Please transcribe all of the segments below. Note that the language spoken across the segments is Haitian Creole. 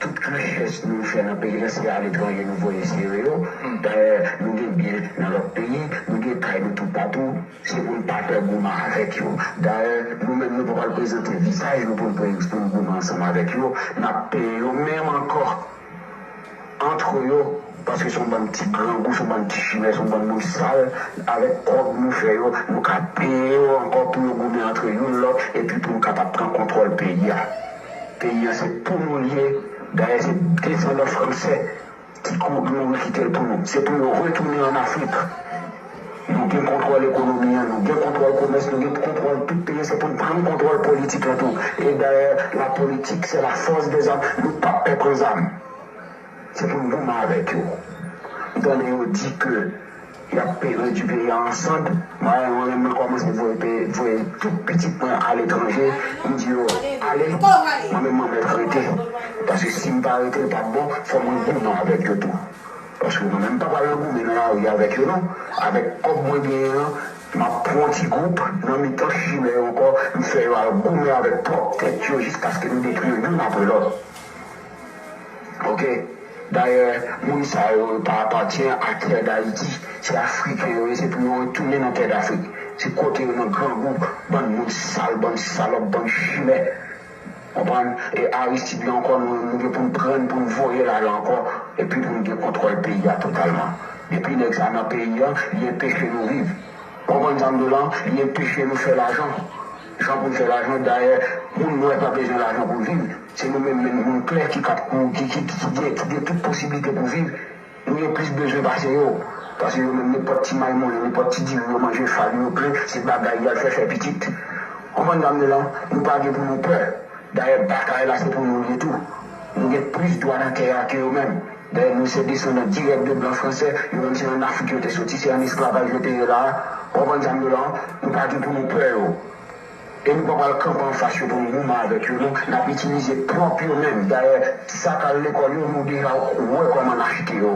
Tout richès nou fè nan peyi lan se aletranje nou voye sere yo. Dayè, nou gen byen nan lòt peyi, nou gen kay nou toupatou. Se pou n pa pè goumen avèk yo. Dayè, nou menm nou pa pral prezante vizaj nou pou n goumen ansanm avèk yo. N ap peye yo menm ankò. Antre yo paske son bann ti grangou son bann ti chimè son bann moun sal avèk kòb nou fè yo yo ka peye yo ankò pou yo goumen antre youn lòt epi pou nou kapab pran kontròl peyi a peyi an se pou nou li ye dayè se desandan fransè ki kou mouri kite l pou nou se pou yo retounen an afrik nou gen kontròl ekonomi an nou gen kontròl komès nou gen kontròl tout peyi an se pou n pran kontròl politik lan tou e dayè la politik se la fòs dezam nou pap pè pran zam. Se pou n goumen avèk yo. M tande yo di ke y ap redui peyi a an sand. Mwen menm mwen menm kòmanse voye tout pitit mwen aletranje. M di yo, Ale! Mwen menm mwen mèt rete. Paske si m pa rete l pap bon. Fò mwen goumen avèk yo tou. Paske mwen menm m pa pral nan goumen nan lari avèk yo non. Avèk kòb mwen genyen an, m ap pran yon ti gwoup nan mitan chimè yo ankò. M fè yo al goumen avèk pwòp tèt yo jiskaske nou detwi yo youn apre lòt. Ok dayè moun sa yo yo pa apatyen a tè dayiti se afriken yo ye se pou yo retounen nan tè dafrik se kote yo nan grangou bann moun sal bann salòp bann chimè konprann e aristid la ankò nou nou gen poun prann poun voyel ale ankò epi poun gen kontròl peyi a totalman depi nèg sa nan peyi an li enpeche nou viv ou konprann sa mdi w lan li enpeche nou fè lajan jan poun fè lajan dayè moun nwè pa bezwen lajan poul viv. Se nou menm menm moun klè ki kap moun ki ki ki gen ki gen tout posiblite pou viv, nou gen plis bezwen pase yo. Pase yo menm nenpòt ti maymolen, nenpòt ti diri yo manje fagi yo plen, se bagay yal fè fè pitit. Konprann sa m di la? Nou pa gen pou nou pè. Dayè batay la se pou nou l ye tou. Nou gen plis dwa nan tè a ke yo menm. Dayè nou se desandan dirèk de blan fransè, yo menm se an Afrik yo te soti, se an esklavaj yo te ye la a. Konprann sa m di w la? Nou pa gen pou nou pè yo. E nou pa pral kanpe anfas yo pou nou goumen avèk yo non, n ap itilize pwòp yo menm. Dayè, ti sa k al lekòl yo, nou deja wè kòman n achte yo.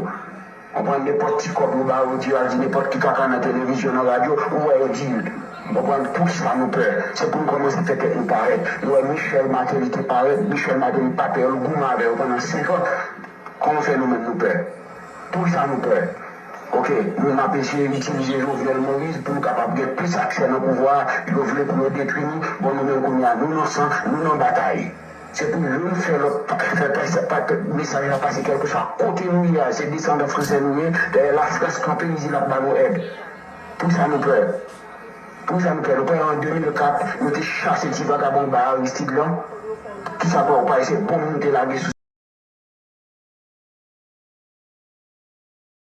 Ou pran nenpòt ti kòb yo ba ou, ou di yo al di nenpòt ki kaka nan televizyon, nan radyo, ou wè yo di l. Ou konprann? Poukisa nou pè? Se pou nou kòmanse fè tèt nou parèt. Nou wè Michel Martelly te parèt, Michel Martelly pa pè yo, l goumen avè yo pandan senkan. Kòman fè nou menm nou pè? Pou sa nou pè? Ok, nou menm ap eseye itilize Jovenel Moïse pou nou kapab gen plis aksè nan pouvwa a, yo vle pou yo detwi nou, bon nou menm kounye a nou nan san, nou nan batay. Se pou youn fè lòt fè pè, mesaj la pase kèlkeswa kote nou ye a, se desandan fransè nou ye, dèyè lafrans kanpe li di l ap ba nou èd. Pou sa nou pè? Pou sa nou fè, nou kwè an 2004 yo te chase ti vagabon anba Aristide lan? Kisa pè w pa wè se bonm nou te lage sou.